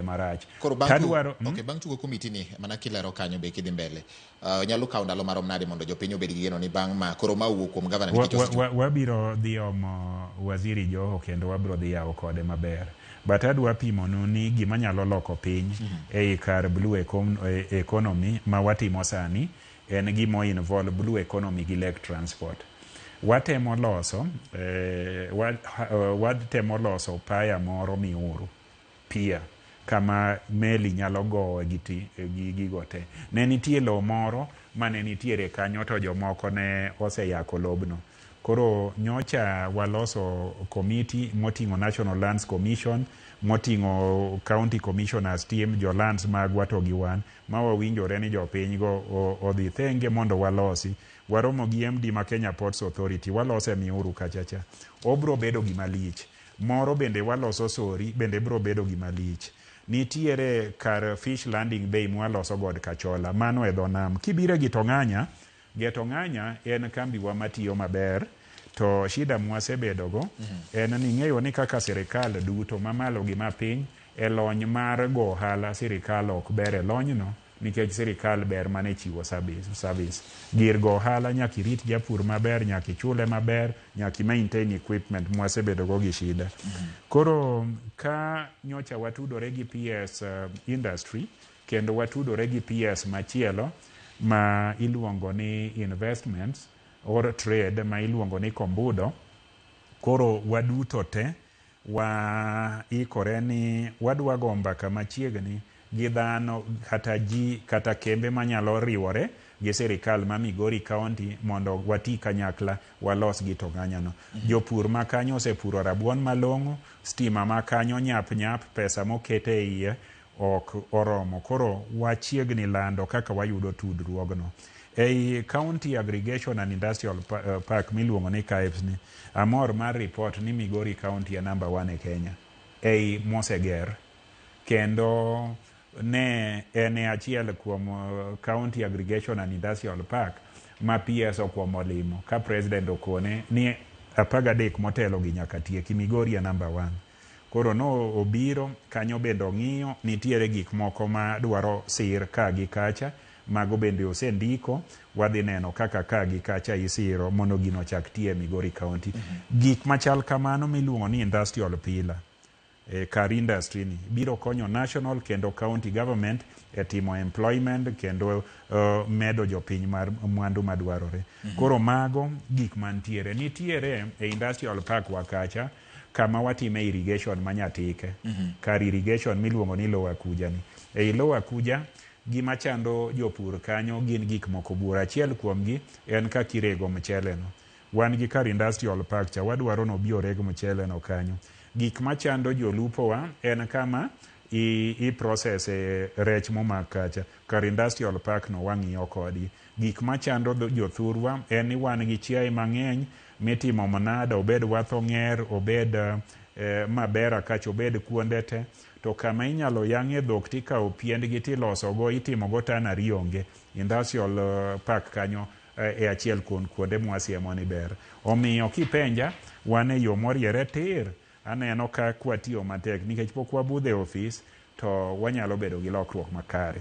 marach. Koro bang' Tadwaro, tugo, okay, bang' tugo komiti ni mana kilero kanyo be kidhi mbele. Uh, nyalo kawo ndalo marom nade mondo jopiny obed gi geno ni bang' ma koro ma wuok kuom gavana wa, nikech wa, wa, wabiro dhi omo waziri Joho kendo wabiro dhi yawo kode maber. But adwa pimonu ni gima nyalo loko piny ei kar blue econ- e- economy ma watimo sani en gima o involve blue economy gi lake transport. Watemo loso eh, wa, ha- eh, watemo loso paya moro miuru pier kama meli nyalo gowoe gi gigo te. Ne nitie lowo moro ma ne nitiere kanyo to jomoko ne oseyako lobno. Koro nyocha waloso komiti moting'o National Lands Commission, moting'o County Commissioners team, jo lands magwa to gi wan ma wawinjore ni jopinygo odhi thenge mondo walosi. Waromo gi MD ma Kenya Ports Authority, walose Miuru kachacha. Obro bedo gima lich. Moro bende waloso sorry bende bro bedo gima lich. Nitiere kar fish landing bay mwaloso god kachola mano e dho nam. Kibiro e gitong'anya, getong'anya en kambiwa matiyo maber to shida mwasebedogo en ni ing'eyo ni kaka sirikal duto mamalo gi mapiny e lony mar go ohala sirikal ok ber e lonyno. nikech sirikal ber mane chiwo service, service. gir go ohala nyaka irit japur maber nyaka ichule maber nyaka maintain equipment mwasebedo go gi shida mm -hmm. koro ka nyocha watudore gi PS uh, eh, industry kendo watudore gi PS machielo ma iluongo ni investments or trade ma iluongo ni kombudo koro waduto te Wa ikore ni wadwa go mbaka machiegni gi dhano kata ji kata kembe manyalo riwore gi sirikal ma Migori County mondo wati kanyakla walos gi to ng'anyano. Jopur ma kanyo osepuro rabuon malong'o, stima ma kanyo nyap nyap, pesa mokete iye ok oromo. Koro wachiegni lando kaka wayudo tudruogno. Ei County Aggregation and Industrial Park miluongo ni CAIPS ni, amor mar report ni Migori County e number one e Kenya ei moseger kendo ne en e achiel kuom County Aggregation and Industrial Park ma PS okwongo limo ka President okone ni 13 motelo gi nyaka tieki, Migori e number one. Koro no obiro kanyo bende ong'iyo nitiere gik moko ma dwaro sir ka gi kacha, mago bende osendiko, wadhi neno kaka ka gi kacha isiro mondo gino ochak tiyo e Migori County. Gik machal kamano miluongo ni industrial pillar, e kar industry ni biro konyo national kendo county government e timo employment kendo medo jopiny mar mwandu madwarore. Koro mago gik mantiere. Nitiere e industrial park wa kacha kama watime irrigation ma nyatike kar irrigation miluongo ni lower kuja ni. Ei lower kuja gima chando jopur kanyo gin gik moko buora. Achiel kuomgi en kaka irego mchele no. Wan gi kar industrial park cha wadwaro ni obi oreg mchele no kanyo. Gik machando jolupo wa en kama i, i process e rech momak kacha. Kar industrial park no wang'iyo kodgi. Gik machando dho- jothurwa en ni wan gi chiaye mang'eny Mitimo manada obed wath onger, obed mabera kach obed kuonde te to kama inyalo yang'e dhok tikawo piendgi tiloso go itimo go tannery onge industrial park kanyo e achiel kuon kuonde mwasiemo ni ber. Omiyo kipenja wan e yo moriere tir aneno ka kwatiyo matek nikech pok wabudho e ofis to wanyalo bedo gi lokruok makare.